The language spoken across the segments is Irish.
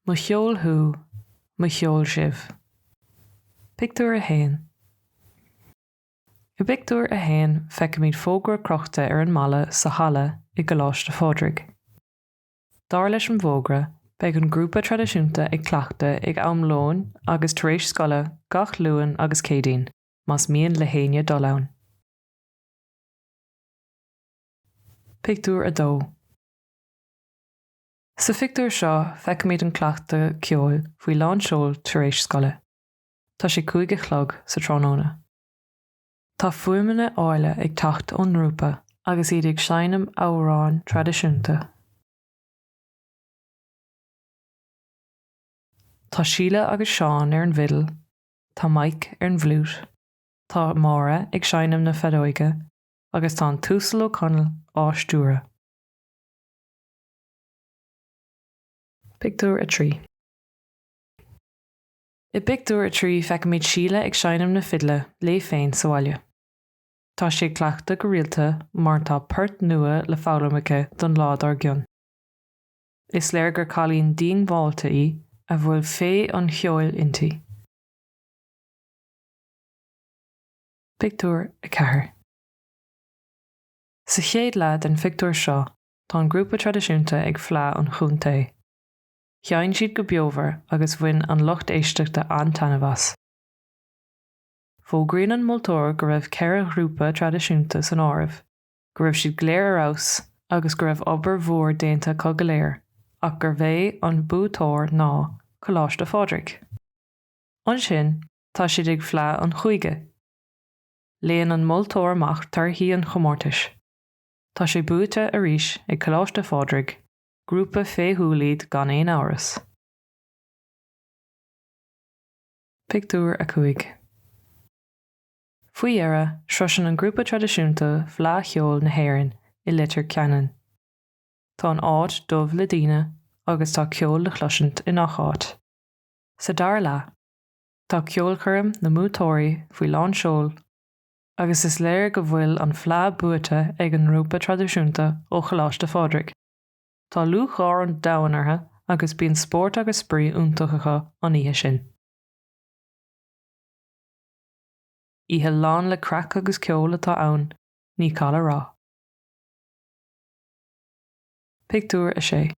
Mo cheol thú, mo cheol sibh. Pictiúr 1 I bpictiúr a haon feicimid fógra crochta ar an mballa sa halla i gColáiste Phádraig. Dar leis an bhfógra, beidh an grúpa traidisiúnta ag cleachtadh ag am lóin agus tar éis scoile gach Luan agus Céadaoin. más mian le héinne dul ann. Pictiúr 2 Sa phictiúr seo feicimid an cleachtadh ceoil faoi lán seoil tar éis scoile. Tá sé cúig a chlog sa tráthnóna. Tá fuaimeanna áille ag teacht ón ngrúpa agus iad ag seinm amhráin traidisiúnta. Tá Síle agus Seán ar an bhfidil Tá Mike ar an bhfliúit, tá Máire ag seinm na feadóige agus tá an tUasal Ó Conaill á stiúradh. Pictiúr 3 I bpictiúr a trí feicimid Síle ag seinm na fidle léi féin sa bhaile. Tá sí cleachtadh go rialta mar tá poirt nua le foghlaim aici don lá dár gcionn. Is léir gur cailín díongbháilte í a bhfuil féith an cheoil inti. Pictiúr 4 Sa chéad leath den phictiúr seo tá an grúpa traidisiúnta ag Fleá an Chontae. Sheinn siad go beomhar agus bhain an lucht éisteachta an-taitneamh as. Fógraíonn an moltóir go raibh ceithre ghrúpa traidisiúnta san áireamh go raibh siad go léir ar fheabhas agus go raibh obair mhór déanta acu go léir ach gurb é an buaiteoir ná Coláiste Phádraig. Ansin tá siad ag Fleá an Chúige. Léann an moltóir amach torthaí an chomórtais. Tá sé buaite arís ag Coláiste Phádraig, grúpa féithiúil iad gan aon amhras. Pictiúr 5 Faoi dheireadh, sroiseann an grúpa traidisiúnta Fleadh Cheoil na hÉireann i Leitir Ceanainn. Tá an áit dubh le daoine agus tá ceol le chloisint i ngach áit. Sa dara leath, tá ceolchoirm na mbuaiteoirí faoi lán seoil agus is léir go bhfuil an Fleadh buaite ag an ngrúpa traidisiúnta ó Choláiste Phádraig. Tá lúcháir an domhain orthu agus bíonn spórt agus spraoi iontach acu an oíche sin. Oíche lán le craic agus ceol atá ann, ní call a rá. Pictiúr 6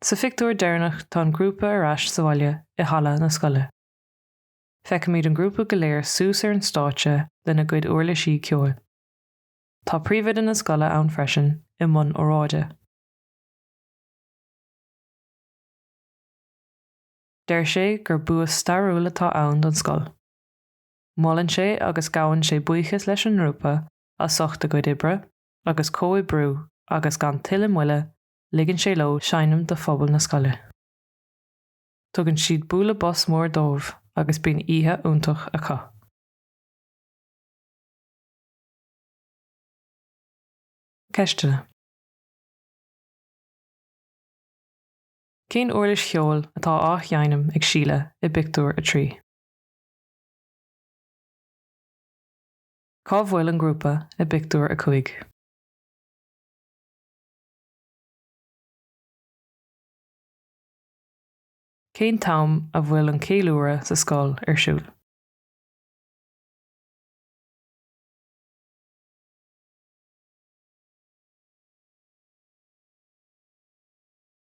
Sa phictiúr deireanach tá an grúpa ar ais sa bhaile i halla na scoile. Feicimid an grúpa go léir suas ar an stáitse lena gcuid uirlisí ceoil. Tá príomhoide na scoile ann freisin i mbun óráide. Deir sé gur bua stairiúil atá ann don scoil. Molann sé agus gabhann sé buíochas leis an ngrúpa a ucht a gcuid oibre agus comhoibriú agus gan tuilleadh moille ligeann sé leo seinm do phobal na scoile. Tugann siad bualadh bos mór dóibh agus bíonn oíche iontach acu. Ceisteanna. Cén uirlis cheoil atá á sheinm ag Síle i bpictiúr a trí? Cá bhfuil an grúpa i bpictiúr a cúig? Cén t-am a bhfuil an ceiliúradh sa scoil ar siúl?